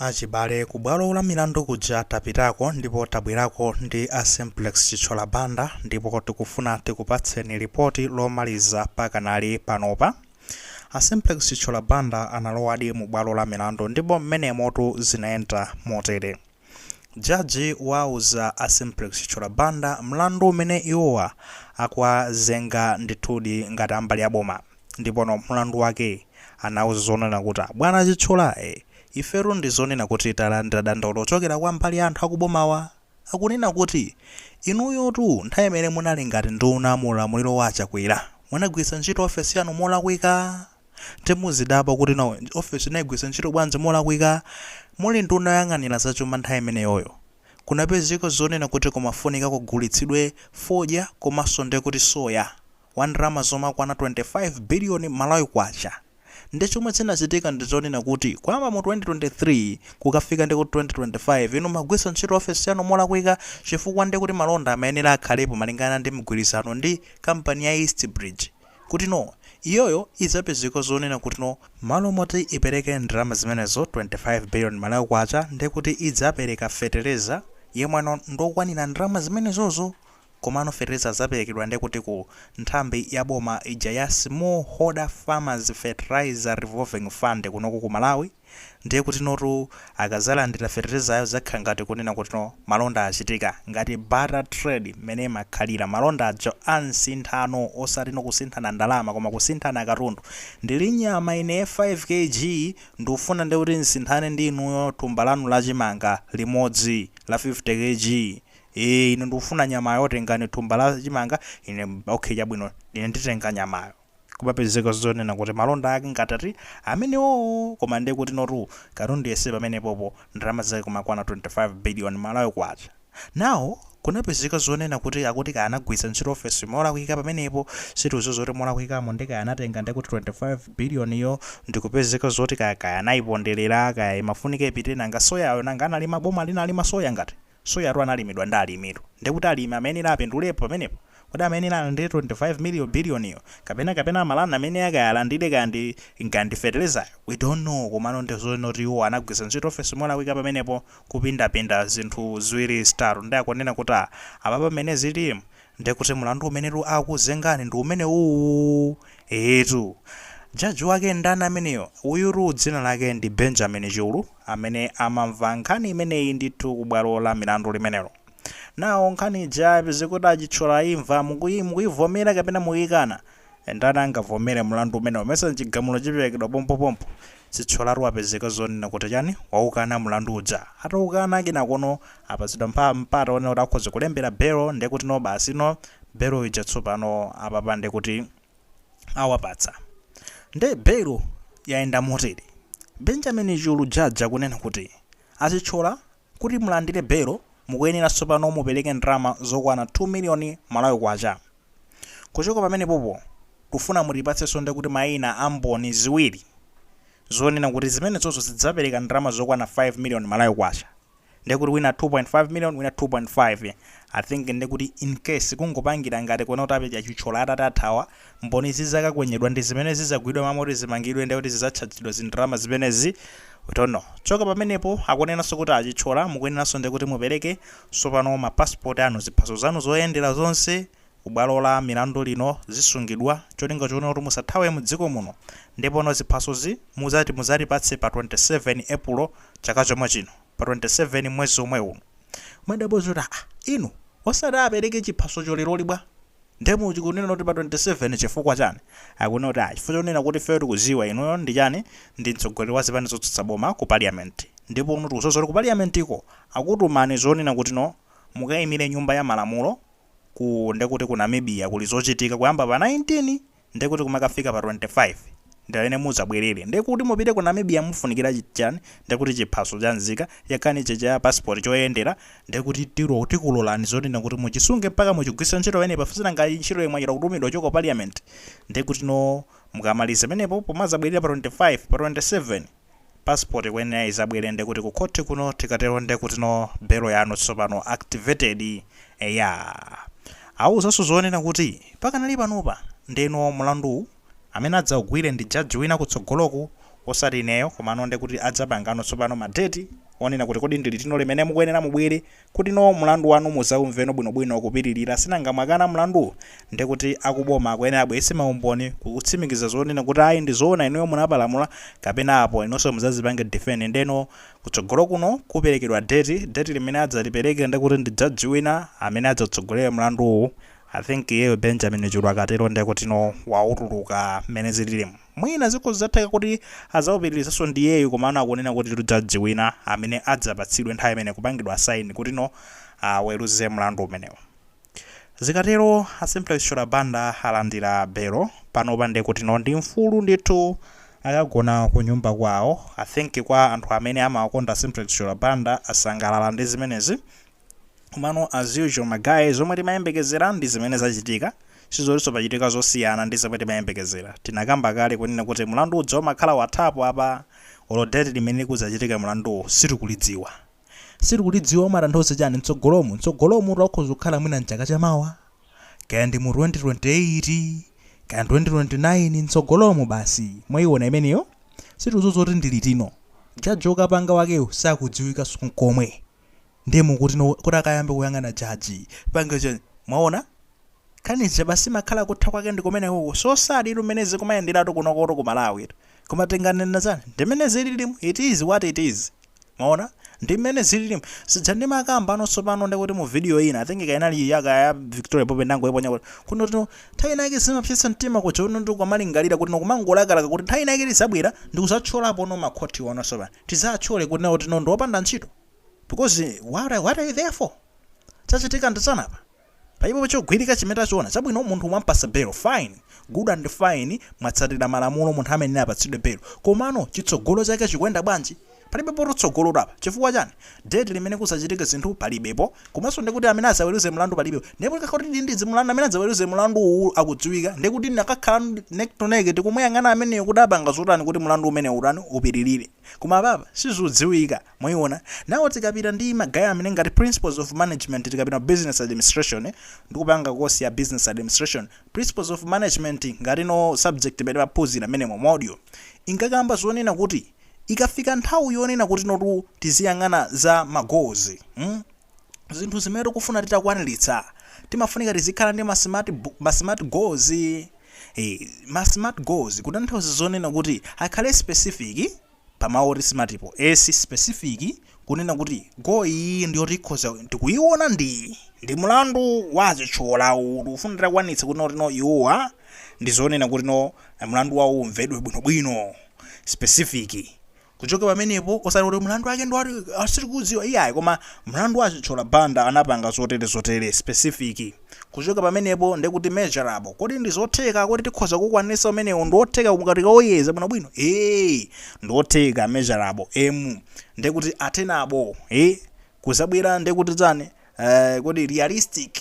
Achibale, kubwalo lamilandu kuja tapitako ndipo tabwerako ndi a Simplex Chithyola Banda ndipo tikufuna tikupatseni lipoti lomaliza pakanali panopa. A Simplex Chithyola Banda analowadi mubwalo lamilandu ndipo m'menemotu zinayenda motere. Jaji wauza a Simplex Chithyola Banda mlandu umene iwowa akuwazenga ndithudi ngati ambali a boma ndipono mlandu wake anawauza zonena kuti bwana Chithyola ifetu ndizonena kuti talandira dandaulo kuchokera kwa mbali a anthu akubomawa akunena kuti inuyotu nthawi imene munali ngati nduna mu ulamuliro wa a Chakwera munagwiritsa ntchito ofesi yanu molakwika Ndiye muzidabwa kuti no office inagwiritsa ntchito bwanji molakwika muli nduna yoyang'anira za chuma nthawi imeneyoyo. Kunapezeka zonena kuti kumafunika kugulitsidwe fodya komanso nde kuti soya wa ndalama zomakwana 25 billion Malawi kwacha. Nde chomwe chinachitika ndi zonena kuti kuyamba mu 2023 kukafika ndi ku 2025 inu mmagwiritsa ntchito office yanu molakwika chifukwa nde kuti malonda amayenera akhalepo malingana ndi mgwirizano ndi company ya East bridge. kutino iyoyo izapezeka zonena kutino malo moti ipereke ndalama zimenezo 25 billion Malawi kwacha ndekuti idzapereka fetereza yemweno ndokwanira ndalama zimenezozo komano fetereza azaperekedwa ndekuti ku nthambi ya boma ija ya small holder farmers fertilizer revolving fund kunoko ku Malawi Ndiye kutinotu akazalandira feterezayo zakhala ngati kunena kutino malonda achitika, ngati barter trade mmene imakhalira. Malonda aja a nsinthano osatino kusinthana ndalama koma kusinthana katundu. Ndili nyama ine 5 KG ndufuna nde kuti nsinthane ndi inuyo thumba lanu la chimanga limodzi la 50 KG. Ine ndufuna nyamayo tengani thumba la chimanga ine okay chabwino ine nditenga nyamayo. Kumapezeka zonena kuti malonda ake ngati ati amenewowo koma nde kutinotu katundu yense pamenepopo ndalama zake kumakwana 25 billion Malawi kwacha. Now kunapezeka zonena kuti akuti anagwiritsa ntchito office molakwika pamenepo sitikuziwa zoti molakwikamo nde kaya anatenga nde kuti 25 billion yo ndikupezeka zoti kaya kaya anayipondelera kaya imafunika ipite nanga soyayo nanga analima boma linalima soya ngati? Soyatu analimidwa ndi alimitu. Ndiye kuti alimi amayenera apindulepo pamenepo? Kodi amayenera alandire 25 billion yo? Kapena kapena amalani amene akalandire kaya ndi kaya ndi fertilizer-yo? We don't know komano ndi zoti iwowo anagwiritsa ntchito ofesi molakwika pamenepo kupindapinda zinthu ziwiri zitatu ndiye akunena kuti ah apapa mmene zilimu nde kuti mlandu umenetu akuzengani ndi umenewuwu? Eetu. Judge wake ndani ameneyo? Uyutu dzina lake ndi Benjamin Chulu. amene amamva nkhani imeneyi ndithu ku bwalo la milandu limenelo. Nawo nkhani ija abwezi akuti a Chithyola imva mukuyivomera kapena mukuyikana? Ndani angavomere mlandu umenewo mesa chigamulo chiperekedwa pompopompo? Chithyolatu wapezeka zonena kuti chani? Waukana mlandu uja. Ataukana kenakono apatsidwa mpata onena kuti akhoza kulembera belo ndekuti no basi no belo ija tsopano apapa ndekuti. awapatsa. Nde bail yayenda motere, Benjamin Chulu judge akunena kuti a Chithyola kuti mulandire bail mukuyenera tsopano mupereke ndalama zokwana 2 million Malawi kwacha. Kuchoka pamenepopo tikufuna mutipatsenso ndekuti maina a mboni ziwiri zonena kuti zimenezozo zidzapereka ndalama zokwana 5 million Malawi kwacha. ndekuti wina 2.5 million wina 2.5 i think ndekuti in case kungopangira ngati kuona kuti apedya Chithyola atati athawa mboni zizakakwenyedwa ndizimene zizagwidwa mwina kuti zimangidwe ndekuti zizatchajidwa zindalama zimenezi we don't know choka pamenepo akunenanso kuti a Chithyola mukuyeneranso ndekuti mupereke sopano ma passport anu ziphaso zanu zoyendera zonse ku bwalo la milandu lino zisungidwa cholinga choona kuti musathawe mdziko muno ndipono ziphasozi muzatipatse pa 27 Epulo chaka chomwe chino pa 27 mwezi womwe uno kumadabwa zoti aa inu osati apereke chiphasocho leroli bwa nde mukunena kuti pa 27 chifukwa chani akunena kuti aa chifukwa chonena kuti ifeyo tikuziwa inuyo ndi chani ndi mtsogoleri wa zipani zotsutsa boma ku parliament ndipono tikuziwa zoti ku parliamentiko akutumani zonena kutino mukaimire nyumba ya malamulo ku ndekuti ku Namibia kuli zochitika kuyamba pa 19 ndekuti kumakafika pa 25 ndi limene muzabwerere ndekuti mupite ku Namibia mufunikira chani ndekuti chiphaso cha nzika chakani chija cha passport choyendera ndekuti tikulolani zonena kuti muchisunge mpaka muchigwiritse ntchito pamene paf sinanga ntchitoyi mwachita kutumidwa kuchoka ku parliament ndekuti no mukamaliza pamenepo pomazabwelera pa 25 pa 27 passport ikuyenera izabwere ndekuti ku khothi kuno tikatero ndekutino belo yanu tsopano activated eya awuzanso zonena kuti pakanali panopa ndeno mlanduwu amene adzaugwire ndi judge wina kutsogoloku osati ineyo komano ndekuti adzapangano tsopano ma date onena kuti kodi ndilitino limene mukuyenera mubwere kuti no mlandu wanu muzaumveno bwinobwino kupitirira sinanga mwakana mlandu nde kuti aku boma akuyenera abweretse maumboni kutsimikiza zonena kuti ayi ndi zoona inuyo munapalamula kapena apo inunso muzazipange defend nde no kutsogolo kuno kuperekedwa date, date limene adzalipereke nde kuti ndi judge wina amene adzatsogolere mlanduwu i think iyeyo Benjamin Chulu akatero nde kuti no wautuluka mmene zililimu. Mwina zikhoza kutheka kuti azaupitilizanso ndiyeyu komano akunena kutitu judge wina amene adzapatsidwe nthawi imene kupangidwa assign kutino aweluze mlandu umenewu zikatero a Simplex Chithyola Banda alandira belo panopa ndekutino ndi mfulu ndithu akagona kunyumba kwawo I think kwa anthu amene amawakonda a Simplex Chithyola Banda asangalala ndi zimenezi Komano as usual ma guy zomwe timayembekezera ndi zimene zachitika, sizotinso pachitika zosiyana ndi zomwe timayembekezera. Tinakamba kale kunena kuti mlandu uja umakhala wathapo apa olo date limene kudzachitike mlanduwo sitikulidziwa. Sitikulidziwa umatanthauza chani? Mtsogolomu? Mtsogolomutu akhoza kukhala mwina mchaka cha mawa, kaya ndi mu 2028, kaya 2029, mtsogolomu basi mwaiona imeneyo? Sitikudziwa zoti ndi litino. Judge okapanga wakeyo sakudziwikanso nkomwe. Ndiye mukuti no kuti akayambe kuyang'ana judge pange chani mwaona nkhani ija basi imakhala kutha kwake ndi kumene kuko so sad tu mmene zikumayenderatu kunokotu ku Malawi tu koma tinganena chani ndi mmene zililimu it is what it is mwaona ndi mmene zililimu sija ndimakamba ano tsopano ndi kuti mu video ina I think kaya inali yaka ya Victoria Bobe ndangoiponya kuti kuno tino nthawi ina yake zimapsetsa mtima kuja uno ndi kumalingalira kuti no kumangolakalaka kuti nthawi ina yake lizabwera ndi kuzatchulapo no makhoti ano tsopano tidzatchule kunena kuti no ndi opanda ntchito because what are, what are you there for chachitika ndi chani apa palibepo chogwirika chimene tachiona chabwino munthu mwampasa belo fine good and fine mwatsatira malamulo munthu amene apatsidwe belo komano chitsogolo chake chikuyenda bwanji palibepo tsogolo apa chifukwa chani date limene kuzachitike zinthu palibepo komanso ndekuti amene azaweluze mlandu palibepo ndipo likakhala kuti ndindizi mlandu amene adzaweluze mlandu uwu akudziwika ndekuti ndakakhala neck to neck tikumuyang'ana ameneyo kuti apanga zotani kuti mlandu umenewu utani upitilire koma apapa sizudziwika mwayiona nawo tikapita ndi ma guy amene ngati principles of management tikapita mu business administration ndikupanga course ya business administration principles of management ngati no subject imene timaphunzira mmenemo module inkakamba zonena kuti Ikafika nthawi yonena kutinotu tiziyang'ana za ma goals mm zinthu zimene tikufuna titakwanilitsa timafunika tizikhala ndi ma smart ma smart goals ee ma smart goals kutanthauza zonena kuti akhale specific pa mau oti smart po S specific kunena kuti goal iyiyi ndiyoti ikhoza tikuiona ndi ndi mlandu wa a Chithyola uwu tikufuna titakwanitsa kutino kutino iwowa ndi zonena kutino mlandu wao umvedwe bwinobwino. specific kuchoka pamenepo osati kuti mlandu wake ndi uti sitikudziwa iyayi koma mlandu wa Chithyola Banda anapanga zotere zotere specific kuchoka pamenepo ndekuti measurable kodi ndi zotheka kodi tikhoza kukwanisa umenewo ndi wotheka ngati tikauyeza bwinobwino ee ndi wotheka measurable m ndekuti attainable A kuzabwera ndekuti chani eh, kodi realistic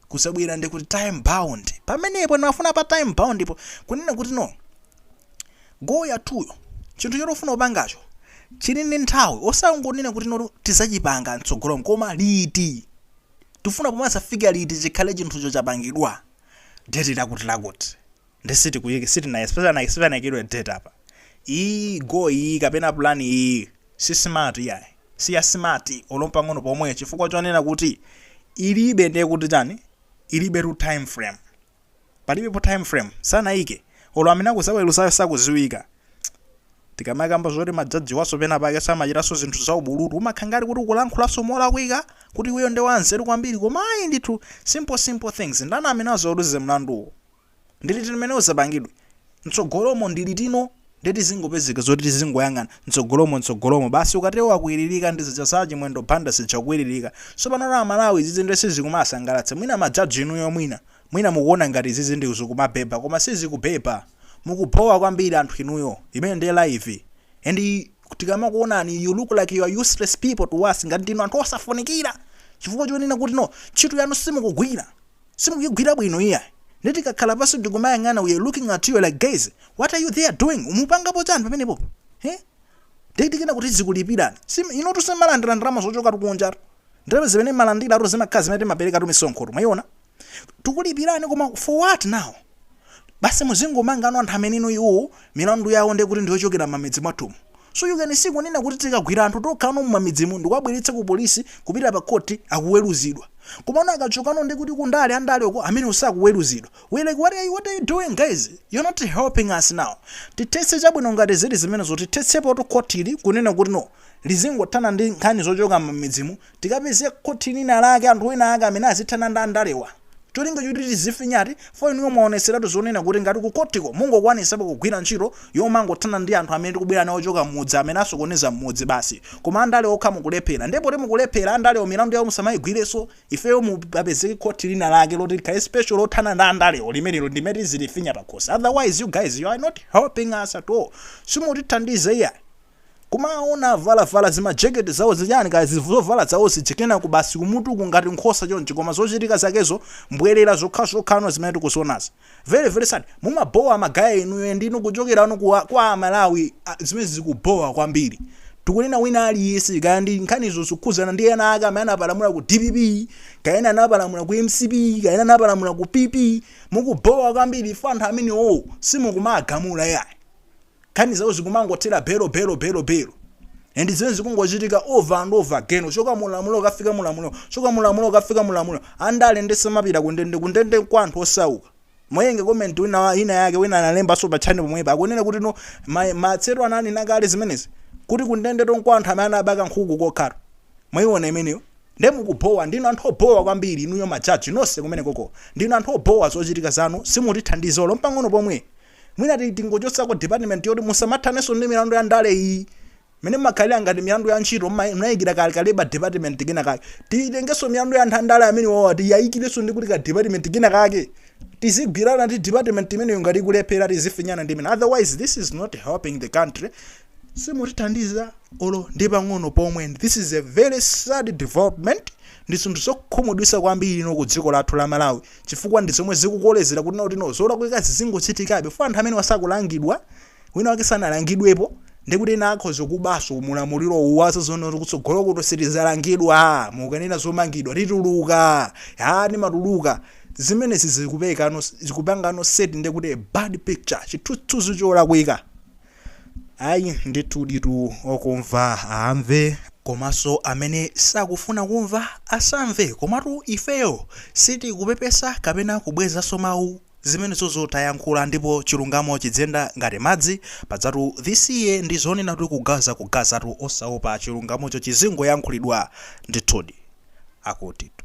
kuzabwera ndi kuti time bound pamenepo ndimafuna pa time bound po kunena kuti no goal yathuyo chinthu choti ufuna kupangacho chili ndi nthawi osangonena kuti no tizachipanga mtsogolo koma liti tifuna pomwe azafika liti chikhale chinthucho chapangidwa date lakuti lakuti ndi sitikuyiki sitina sipana sipanaikidwe date apa iyi goal iyi kapena plan iyi si smart yayi si ya smart olo mpang'ono pomwe chifukwa chonena kuti ilibe ndiye kuti chani ilibe tu time frame palibe po time frame sanayike olo amene akuzaweruzayo sakuziwika tikamakamba zoti majaji awaso pena pake samachitaso zinthu za ubulutu umakhala ngati kuti ukulankhulanso molakwika kuti iweyo ndi wanzeru kwambiri koma ayi ndithu simple simple things ndani amene azaweruze mlanduwo Ndi liti limene udzapangidwe? Mtsogolomo, ndi liti no? Ndiye tizingopezeka zoti tizingoyang'ana, mtsogolomo, mtsogolomo. Basi ukatero wakwiririka ndi zija za Chimwendo Banda zija kukwiririka. Tsopanotu a Malawi izizi ndiye sizikumasangalatsa. Mwina majaji inuyo mwina, mwina mukuona ngati izizi ndi zikumabhebha koma sizikubhebha. Mukubhowa kwambiri anthu inuyo. Imeneyi ndiye live. And tikamakuonani you look like you are useless people to us ngati ndinu anthu osafunikira chifukwa chonena kuti no ntchito yanu simukugwira. simukuigwira bwino iyayi nde tikakhala pansi ndikumayang'ana we're looking at you like guys what are you there doing umupangapo chani pamenepopo he nde tikanena kuti tizikulipirani Sim- inotu simalandira ndalama zochokatu kunjatu ndalama zimene mmalandirazotu zimakhala zimene timaperekatu misonkhotu mwaiona tikukulipirani koma for what now basi muzingomanga no anthu amene no iwowo milandu yawo ndekuti ndiyochokera mmamidzi mwathumu so you can see kunena kuti tikagwira anthu okha no mmamidzimu ndikuwabweretsa ku police kupita pa court akuweluzidwa komano akachoka no ndekuti ku ndale andale uko amenewo sakuweluzidwa we like what are you, what are you doing guys you're not helping us now tithetse chabwino ngati zili zimenezo tithetsepotu court ili kunena kuti no lizingothana ndi nkhani zochoka mmamidzimu Tikapeze khothi lina lake anthu ena ake amene azithana ndi andalewa cholinga choti tiziwafinyatu for inuyo mwaoneseratu zonena kuti ngati ku khothiko mungokwanisapo kugwira ntchito yomangothana ndi anthu amene tikubwera nawo ochoka mmudzi amene asokoneza mmudzi basi koma andale okha mukulephera ndiye poti mukulephera andalewo milandu yawo musamaigwireso ifeyo mu papezeke khothi lina lake loti likhale special lothana ndi andalewo limenelo ndimene tizilifinya pakhosi otherwise you guys you are not helping us at all simutithandiza iyayi. Kumawaona avalavala zimajekete zawo zichani kaya zovala zawo zija kenako basi kumutu uku ngati nkhosa chonchi koma zochitika zakezo mbwelera zokhazokha no zimene tikuzionazi. Very very sad. Mumabhowa magaya inuyo and inu kuchokera no ku kwa a Malawi zimenezi zikubhowa kwambiri. Tikunena wina aliyense kaya ndi nkhanizo zikukhuzana ndi ena ake amene anapalamula ku dpp kaya ena anapalamula ku mcp kaya ena anapalamula ku PP. Mukubhowa kwambiri chifukwa anthu amenewo simukumawagamula yayi. nkhani zawo zikumangothera bail bail bail bail and zimene zikungochitika over and over again uchoka mulamulo ukafika mulamulo uchoka mulamulo ukafika mulamulo andale nde samapita kundende kundende nkwa anthu osauka moti nde comment wina wa- ina yake wina analembanso pa channel pomwepa akunena kuti no ma- Matsero ananena kale zimenezi kuti kundende nkwa anthu amene amabaka nkhuku kokhatu mwayiona imeneyo nde mukubhowa ndinu anthu obhowa kwambiri inuyo majaji nonse kumene koko ndinu anthu obhowa zochitika zanu simutithandiza olo mpang'ono pomwe Mwina ti- tingochotsa ku department yoti musamathanenso ndi milandu ya ndale iyi mene imakhalira ngati milandu ya ntchito mma- munayikira ka ka labor department kena kake titengenso milandu ya anthu andale amene wawa tiyayikirenso ndi kuti ka department kena kake tizigwirana ndi department imeneyo ngati ikulephera tizifinyana ndi imeneyo otherwise this is not helping the country simutithandiza olo ndi pang'ono pomwe this is a very sad development ndi zinthu zokhumudwisa kwambiri muno ku dziko lathu la malawi chifukwa ndi zomwe zikukolezera kuti no tino zolakwika zizingochitikabe chifukwa anthu amenewa sakulangidwa wina wake sanalangidwepo ndikuti ena akhoza kubaso mulamuliro uwu azaona kutsogolo kuti sitizalangidwa mukanena zomangidwa tituluka ha timatuluka zimenezi zikupekano zikupanga no set ndikuti a bad picture chithunzi cholakwika Ayi ndithuditu okumva amve komanso amene sakufuna kumva asamve komatu ifeyo sitikupepesa kapena kubwezanso mawu zimenezozo tayankhula ndipo chilungamo chidziyenda ngati madzi pajatu this year ndi zonena kuti kugaza kugazatu osaopa chilungamocho chizingoyankhulidwa ndithudi akutitu.